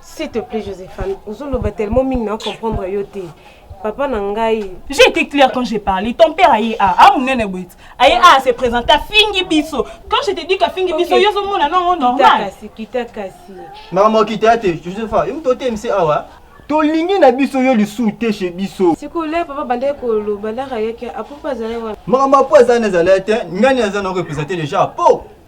S'il te plaît, Josephane, ozoloba tellement mingi na comprendre yo te. Papa na ngai. J'ai été clair quand j'ai parlé. Ton père aye a, a munene boit. Aye a à se présenter à Fingi Bisso. Quand je te dis qu'à Fingi Bisso, yo zo mona non normal. Kita kasi, kita kasi. Maman kita te, Josepha, im to te mse awa. tolingi na biso yo lisusu te chez biso sikola papa bandaki koloba laka yaki apo mpo azali wana makambo apo azali na ezali te ngani aza na represente deja po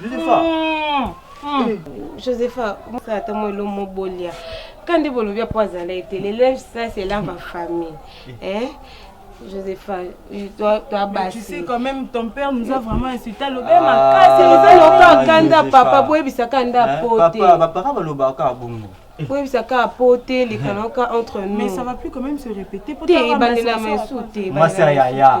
Josepha. Mm, mm. Eh. Josepha, mosala ata mwa elo mobolia. Kandi bolobi apo azala ete le linge ça c'est là ma famille. Eh? Josepha, toi, toi basi. Tu sais quand même ton père nous a vraiment insulté lobe ah, makasi. Eza loka kanda papa boyebisa kanda hein? pote. Papa, ba parents balobaka bongo. koyebisa kaka po te lekana kaka entre nous mais ça va plus quand même se répéter po te ebandela ma esu te masi ya yaya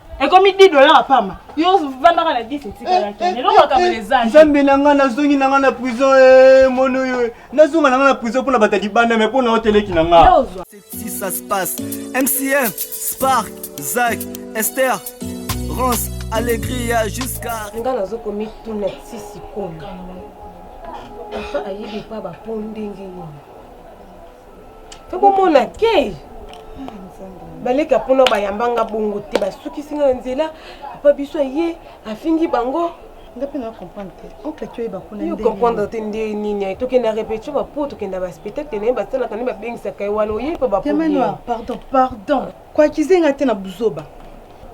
ekomi di dola ya pamba yo vandaka na 10 etikalaki eh, eh, lelo makambo eh, ezali nzambe na ngai nazongi na ngai na prison e mono yo nazonga na ngai na prison mpo na bata libanda me mpo na oteleki na ngai si ça se passe mcm spark zak ester rance alegria jusqu'à ngai nazokomituna sisi komi ayebi epa bapo ndenge nini tokomona ke baleka mpona bayambanga bongo te basukisi nga na nzela papa biso aye afingi bango nga mpe na comprendre te oncle ti oyeba kuna yo comprendre te nde nini aye tokenda repetition bapo tokenda baspectacle na ye basalaka nde babengisaka ye wana oyebi mpe bapo pardon pardon Ko accuser nga te na buzoba.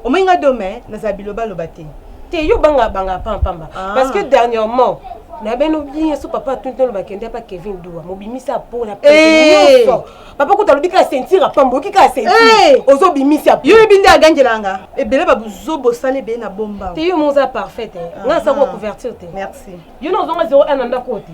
Omoni nga do mais nazala biloba loba te. Te yo banga banga pamba pamba ah. parce que dernièrement na bino bien so papa atuni tolo bakende pa Kevin Dua mobimisa po na eh! nyonso papa kuta alobi kaka sentire apamba oyoki kaka sentire eh! ozobimisa yo yebi nde agangela nga ebele babuzo bosala ebele na bomba te yo moza parfait te eh. nga asako couverture te merci yo na ozonga 01 na ndako te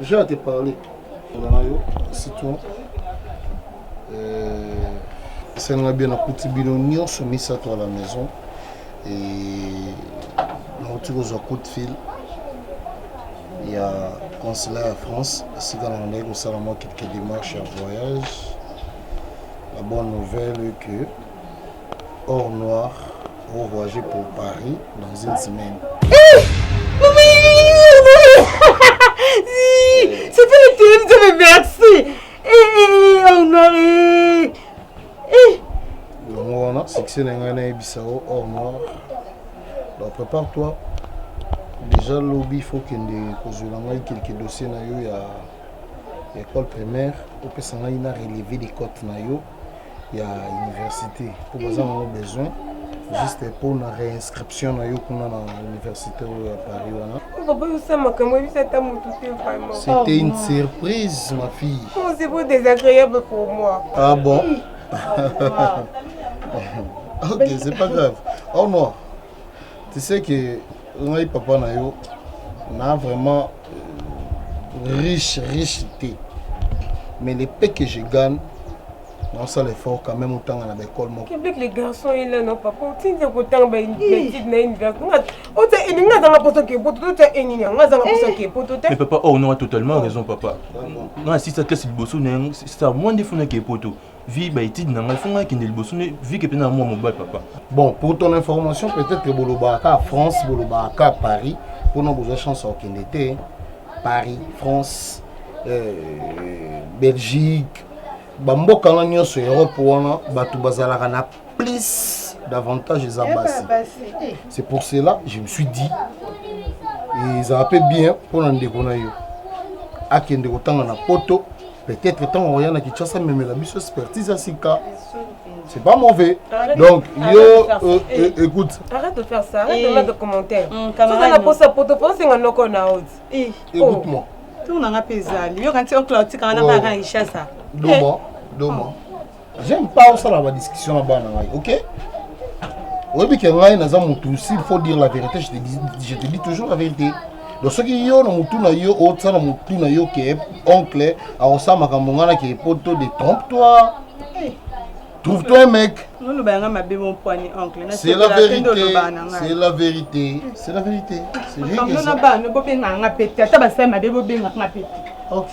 J'ai à te parler. Citron. Euh, esalinga bien nakuti bino nyonso misato à la maison et nauti kozwa coup de fil ya consulat ya france esika na nandaki kosala mwa quelque démarche ya voyage la bonne nouvelle que Or noir au voyager pour Paris dans une semaine. Eh, c'est pas le téléphone, ça me merci. Eh, eh, eh, or noir, eh. Eh. yango wana succès na ngai nayebisa yo or noir donc prépare toi déjà lobi faut kende kozwela ngai kelke dossier na yo ya école primaire opesa ngai na relevé de cote na yo ya université mpo baza nango besoin juste mpo na réinscription na yo kuna na université oyo ya paris wana okoboyisa makambo oyebisa ata motu te vraiment c'était une oh, surprise ma fille oh, c'est beau désagréable pour moi ah bon ok c'est pas grave au revoir Tu sais que ngai papa na yo na vraiment euh, riche riche te mais le peu que je gagne naosala effort quand même otanga na baekole mokoblek le garçon ye nano papa otindi kotanga baetide na université ota elingi nga azanga mposo ke poto totya enini yango azanga mposo eh. ke poto te papa or oh, noa totalement raison papa nga asisa classe liboso na yango sa mwa nde funa ke poto vie ba étude na ngai fo ngai kende liboso nde vie ke pena mwa mobali papa bon pour ton information peut-être que bolobaka ka France bolobaka ka Paris mpona bozwa chance ya kokende te Paris France euh, Belgique bamboka wana nyonso Europe wana bato bazalaka na plus davantage eza eh basi eh. c'est pour cela je me suis dit ezala mpe bien mpo na ndeko na yo akende kotanga na poto peut-être ntango oya na kinshasa amemela biso expertise ya sika c'est pas mauvais arrête, donc arrête yo euh, euh, eh. écoute arrête de faire ça arrête de mettre commentaire soza na posa poto mpo osenga noko na oti eh. écoute moi oh. tour nanga mpe ezali yoka nti okla otikanga na baka kinshasa doma doma j'aime pas osala ba discussion na bana ngai ok oyebi ke ngai naza mutu s'il faut dire la vérité je te dis, je te dis toujours la vérité donc soki yo na mutu na yo otya na mutu na yo ke oncle akosala makambo ngai na ke poto de trompe toi eh. trouve toi un mec oloba yanga mabe mon poignet oncle c'est la vérité c'est la vérité c'est la vérité c'est rien que ça bana bobengaka nga pete ata basali mabe bobengaka nga pete ok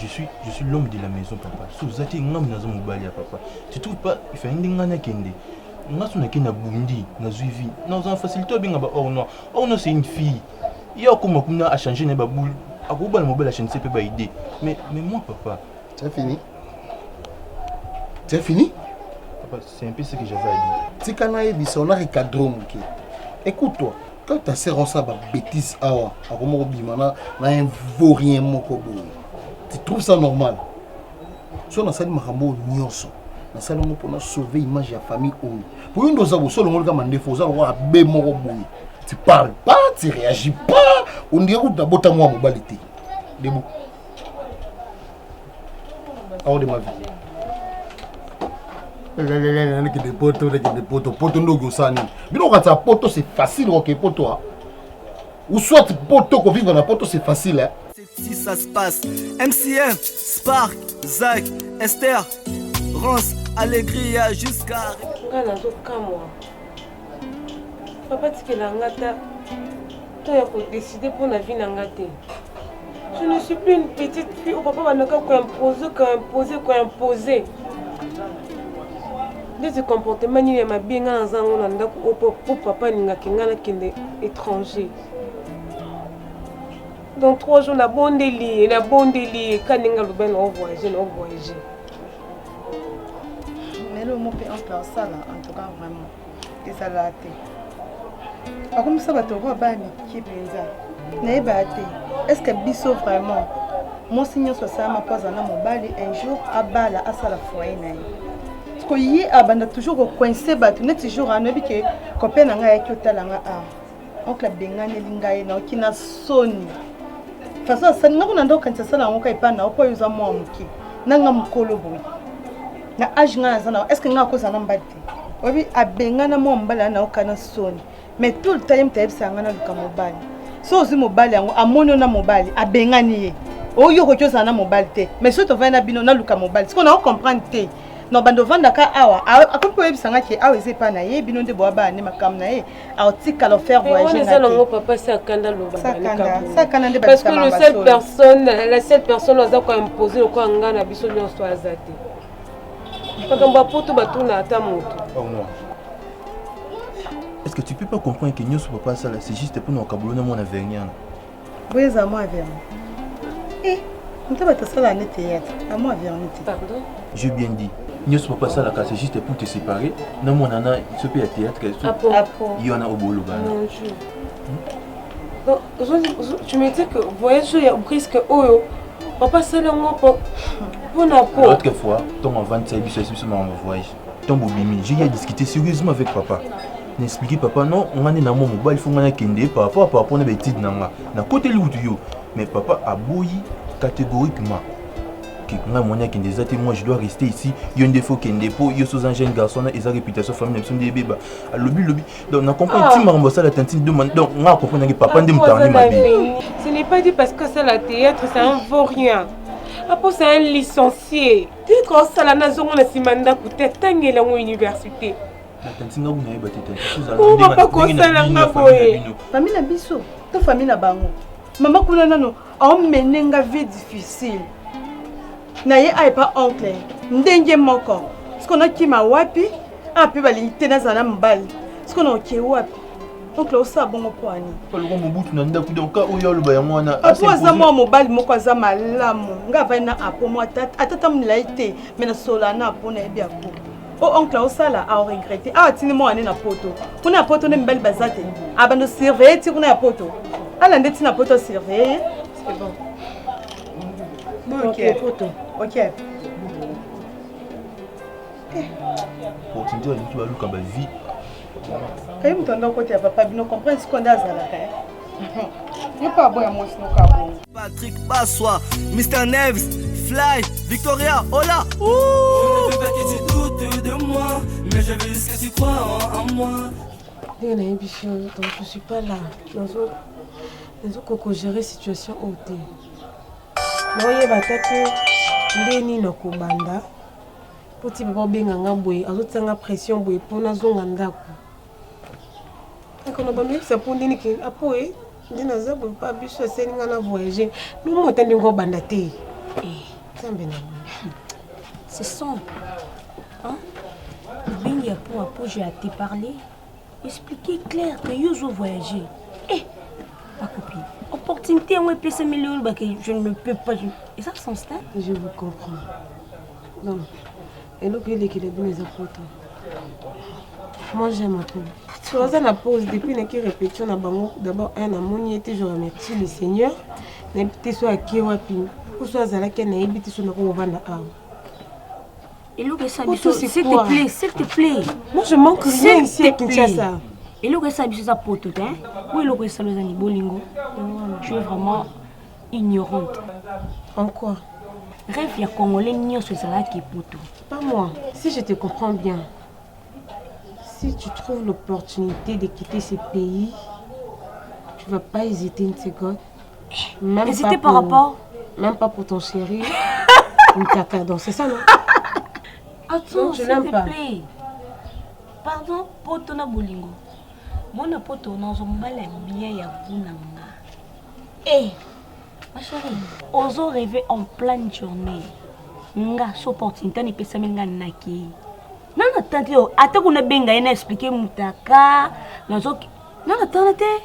je suis je suis l'homme de la maison papa so oza te ngai naza mobali ya papa tu trouve pas efali nde ngai nakende ngai so nakende nabundi nazwi vie naza na facilité obenga ba or noir or noir c'est une fille ye akoma kuna achange na ye baboule akobala mobali achanise mpe baide mais mais moi papa c'est fini c'est fini C'est un peu ce que j'avais à dire. Tika na yebisa on a recadré moke. Écoute-toi. Quand ta sœur osa ba bêtise awa, akoma kobima na na un vaurien moko boye. Tu trouves ça normal? So nasali makambo nyonso. Nasali yango mpona sauver image ya famille oyo. Po yo nde oza boso olongoli kaka mandefu oza lokola be moko boye. Tu parles pas, tu réagis pas. On dirait kutu nabota mwa mobali te. Debout. hors de ma vie nakende poto nakende poto poto ndoki osala nini bino kokatisa poto c'est facile oke poto a ou soit poto kovivre na poto c'est facile si ça se passe mcm spark zak esther rance allegria jusqu'à ngai nazokamwa papa tikela nga ta to ya kodeside mpo na vi na nga te je ne suis plus une petite fille oyo papa bandaka koimpose koimpose koimpose ndeti comportement nini ya mabe ngai naza yango na ndako oyo mpo papa alingaki ngai nakende étranger donc trois jours nabondeli ye nabondeli ye kaninga loba na ovoyage na ovoyage lelo omo mpe ample asala en tout cas vraiment ezala te akomisa bato yango abaya mike mpenza nayebaa te estce biso vraiment mwasi nyonso asalama mpo azala na mobali un jour abala asala foye na ye ko ye abanda toujours kocoince bato neti jour anoyebi ke copain na ngai ayaki otala ngai awa oncle abenganeli ngai naoki na soni façon asali nako na nde okanisa asala yango ka epai nao mpo oyo oza mwa moke na nga mokolo boye na age ngai naza nao estce ngai akozala na mbali te oyebi abengana mwa mobali ya naoka na soni mais tout le time tayebisaka ngai naluka mobali so ozwi mobali yango amoni yo na mobali abengani ye oyo okoki ozala na mobali te mais soki tovandi na bino naluka mobali sikoyo nao comprendre te no bando ovandaka awa akomi koyebisa ngai ke awa eza epai na ye bino nde boabaa nde makambo na ye aotikala ofaire voyageparceque le seul personne la seule personne aza koimpose lokola ngai na biso nyonso aza te makambo ya poto batuna ata moto Est-ce que tu peux pas comprendre que nous, papa, ça, c'est juste pour nous, Kaboulou, mon avenir. Boye eza mwa verni. Eh, moto bato asala ne théâtre, a mwa verni te. Pardon? J'ai bien dit. nyonso papa asalaka c'est juste pour te séparer na mwana na biso mpe ya théâtre Apo. Apo. ye wana oboloba na Mon Dieu. Donc, ozo- ozo- tu me dis que voyage oyo ya brisque oyo papa asali yango po- mpo na po l'autre fois ntongo avandisa ye biso esi biso makambo ya voyage Tant bobimi, j'ai eu à discuter sérieusement avec papa. Na expliquer papa non, nga nde na mwa mobali faut nga na kende par rapport à par rapport na ba études na nga. Na koteli wutu yo. Mais papa aboyi catégoriquement. Que nga mwana ya kende eza te, moi je dois rester ici. Yo nde faut kende po yo soza un jeune garçon na eza réputation famille na biso nde ebeba. Alobi lobi. Donc na comprendre Ah. ti makambo asala tantine de man. Donc nga comprendre ngi papa nde moto akomi mabe. Ce n'est pas dit parce que ça la théâtre, c'est un vaurien. Apo c'est un licencié. Titre osala nazongo na nsima ndako te atangeli yango université papa kosala nga boye fami na biso to fami na bango mama kuna nano aomene nga vie difficile na ye aye pa oncle ndenge moko siko nakima wapi ape balingi te nazala na mobali siko naoke wapi oncle osala bongo mpo ani aloko mobutu na ndako donc ka oyo aloba yango wana apo aza mwa mobali moko aza malamu ngai avai na apo mwa atata molai te mai nasolola na apo nayebi apo o oh, oncle osala aoregrete awa atindi mwana ne na poto kuna ya poto nde mibali baza te abanda ah, osurveille ti kuna ya poto ala nde ti na poto asurveille otindi baluki baluka bavie Kaye moto anda okoti ya papa bino comprendre sikoyo nde azalaka eh? yo mpe aboya mwasi moko abongo patrick baswa mr neves fly victoria ola ndenge nayebi fio donc je suis pas là nazokoko gérer situation oyo te naoyeba ata te nde nini nakobanda Mpo ti papa obenga nga boye azotia nga pression boye mpo nazonga ndako ekono bamiyebisa mpo ndeni ke apo e nde naza boye mpa biso aseli nga na voyage nomota ndenge obanda te eh. nzambe na ce sont hein? obengi ya mpo apo je ate parler expliquer clair que yo ozo voyager eh bakopi opportunité yango epesami lelo olobaka je ne peux pas eza sens te je vous comprends donc eloko elekela bino eza poto moi j'aime apo toza na pause depuis naki répétition na bango d'abord un namoni ye te je remercie le seigneur nayebi te so ake wapi oso azalaki nayebi te so nakokovanda awa eloko esa biso s'il te plaît s'il te plaît moi je manque rien ici à Kinshasa eloko esa biso eza poto te oyo eloko esala eza ni bolingo tu es vraiment ignorante en quoi rêve ya congolais nyonso ezalaki poto pas moi si je te comprends bien si tu trouves l'opportunité de quitter ce pays tu vas pas hésiter une seconde Même Et c'était par rapport Même pas pour ton chéri. Une caca, donc c'est ça, non Attends, s'il te plaît. Pardon, poto na bolingo. Mona poto na ozo mobala bien ya guna nga. Eh, ma chérie, ozo rêver en pleine journée. Nga so opportunité ni pesa nga naki. Non, attends, ata kuna benga ye na expliquer mutaka. Nazo Non, attends, attends.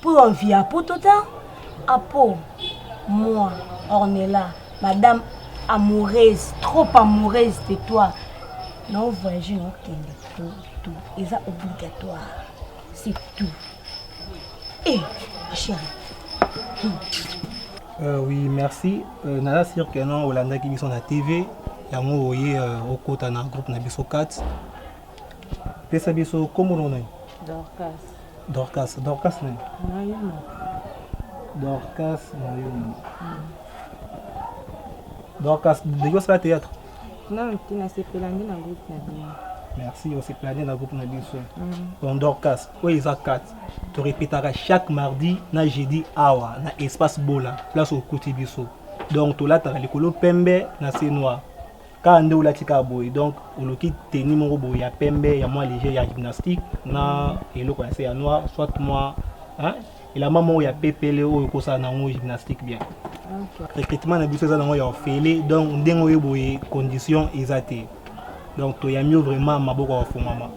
Pour un via pour tout un apo moi Ornella madame amoureuse trop amoureuse de toi na voyage na okende tout tout eza obligatoire c'est tout eh ma chérie hmm. euh, oui merci euh, naza sur que non olandaki biso na tv yango oye euh, okota na groupe na biso 4 pesa biso kombo na yo Dorcas, Dorcas nani? Nayuma. Dorcas Nayuma. Mm. Dorcas, ndenge osala théâtre? Non, mpe nasepela nde na groupe na bino. Merci, osepela nde na groupe na biso. Mm. Donc Dorcas, oyo eza 4. To répétaka chaque mardi na jeudi awa na espace Bola, place okuti biso. Donc tolataka likolo pembe na se noir. kaka nde olati kaka boye donc oluki teni moko boye ya pembe ya mwa leger ya gymnastique na eloko ya se ya noir soit mwa elamba moko ya pepele oyo okosala na yango gymnastique bien recrutement na biso eza nango ya ofele donc ndenge oyo boye condition eza te donc toyambi yo vraiment maboko ya kofungwama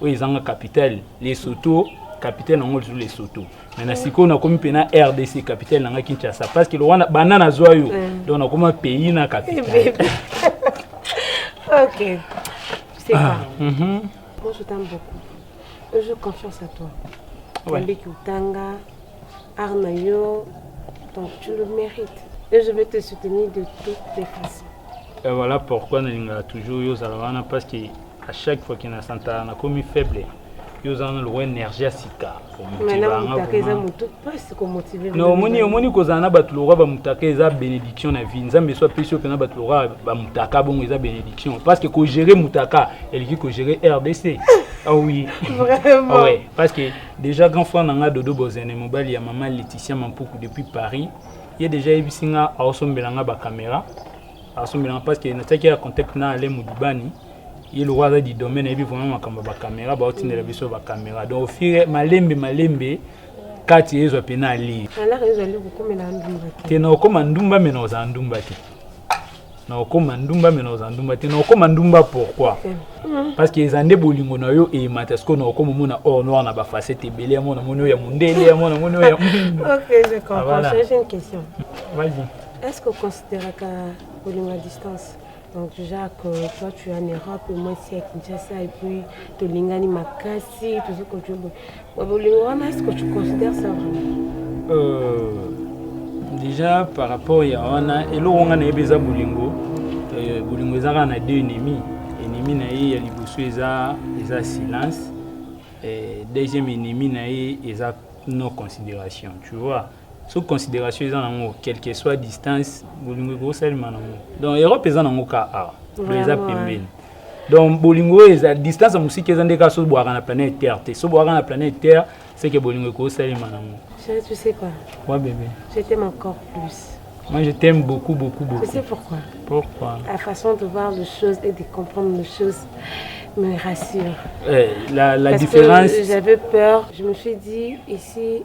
oyo ezanga capital lesoto capitale nango lisu lesoto me na sikoyo nakomi mpe na rdc capitale nanga kinshasa parce que lowana banda nazwa yo mm. donc nakoma pays na capitale ok c'est ah, pas mm -hmm. moi je t'aime beaucoup j'ai confiance à toi ouais. otanga Art na yo, donc tu le mérites. Et je vais te soutenir de toutes les façons. Et voilà pourquoi nalingaka toujours yo ozala wana parce que à chaque fois que nasantaka nakomi faible yo oza na lokola énergie ya sika omoni omoni kozala na bato lokola bamutaka eza bénédiction na vie nzambe eso apesi yo mpena bato lokola bamutaka bongo eza bénédiction parce que kogere mutaka eleki kogere rdc ah oui ah ouais parce que Deja grand frère na nga Dodo Bozene mobali ya maman Laetitia Mampuku depuis Paris. Ye deja yebisi nga aosombela nga ba camera. Asombela nga parce que na tiaki ya contact na Alain Mudibani. Ye lokola aza di domaine ayebi vraiment makambo ya ba camera ba otindela biso ba camera. Donc au fur malembe malembe kati ezwa pe na ali. Alaka ezali kokomela ndumba te. Te na okoma ndumba me na ozala ndumba te. na okoma ndumba me na oza ndumba te na okoma ndumba pourquoi mm. parce que eza nde bolingo na yo eyemata sikoyo na okoma omona or noir na bafacete ebele ya mona moni oyo ya mondele ya mona moni oyo est ce que oconsideraka bolingo ya distance donc déjà que toi tu es en europe moi si ya kinshasa et puis tolingani makasi tozokojobo Bolingo wana est-ce que tu considères ça vraiment? Euh, déjà par rapport ya wana eloko nga nayebi eza bolingo euh, bolingo eza kaka na deux ennemis ennemi na ye ya liboso eza eza silence euh, deuxième ennemi na ye eza non considération tu vois soki consideration eza nango quelque soit distance bolingo ekosalema nango donc europe eza nango ka awa eza pembeni donc bolingo oyo eza distance ya mosika eza nde kaka soki bwaka na planète terre te soki bwaka na planète terre seke bolingo ekosalema nango Chérie, tu sais quoi Moi, bébé. Je t'aime encore plus. Moi, je t'aime beaucoup, beaucoup, beaucoup. Tu sais pourquoi Pourquoi La façon de voir les choses et de comprendre les choses me rassure. Eh, la, la Parce différence. J'avais peur. Je me suis dit, ici,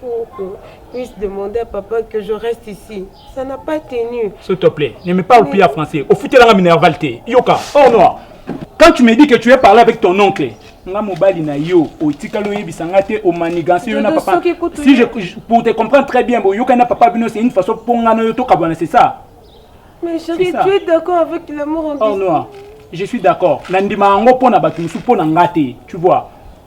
Pourquoi Miss demander à papa que je reste ici. Ça n'a pas tenu. S'il te plaît, ne me parle Mais... plus à français. Au foutu, la minerval Yoka, oh non. Quand tu me dis que tu es parlé avec ton oncle, nga mobali na yo otikali oyebisa nga te omaniganse yo na papa si je, pour te comprendre très bien boyoka na papa bino c'est une façon mpo nga na yo tokabwana c'est ça mais chérie tu es d'accord avec l'amour en oh, noir je suis d'accord nandima yango mpo na bato mosusu mpo na nga te tu vois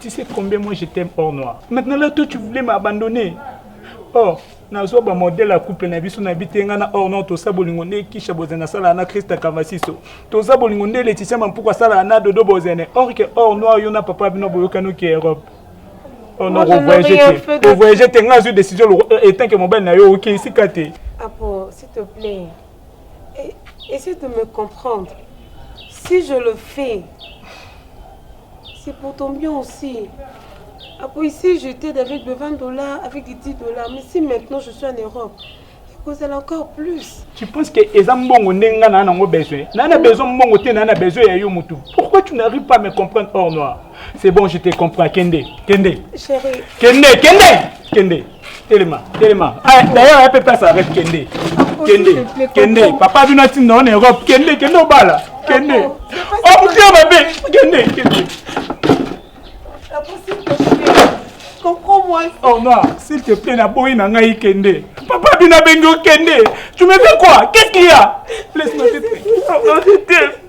Tu sais combien moi je t'aime hors noir. Maintenant là toi tu voulais m'abandonner. Or nazwa ba modèle ya couple na biso na bitenga na hors noir tosa bolingo nde kisha bozana sala na Christa Kavasiso. Tosa bolingo nde Laetitia Mampuku asala na Dodo Bozene. Or que hors noir yo na papa bino boyokani ki Europe. Oh non, Moi, je n'ai rien revoyage fait te. de- Revoyage te nga azwi décision loko- euh, etant que mobali na yo oke esika te. Apo, s'il te plaît. Et, essaie de me comprendre. Si je le fais, c'est pour ton bien aussi. Après, ici, je t'aide avec de 20 dollars, avec des 10 dollars. Mais si maintenant je suis en Europe, ekozala encore plus. Tu penses que eza mbongo ndenge nga na nango besoin na na besoin mbongo te na na besoin ya yo mutu. Pourquoi tu n'arrives pas à me comprendre hors noir? C'est bon, je te comprends. Kende, kende. Chérie. Kende, kende, kende. telema telema ah, d'ailleurs ya pepe asala rep kende kende kende papa bino atinda wana europe kende kende obala kende omutema oh, mabe kende kende Oh non, s'il te plaît, la boy n'a ngai kende. Papa bina bengo kende. Tu me fais quoi Qu'est-ce qu'il y a Laisse-moi te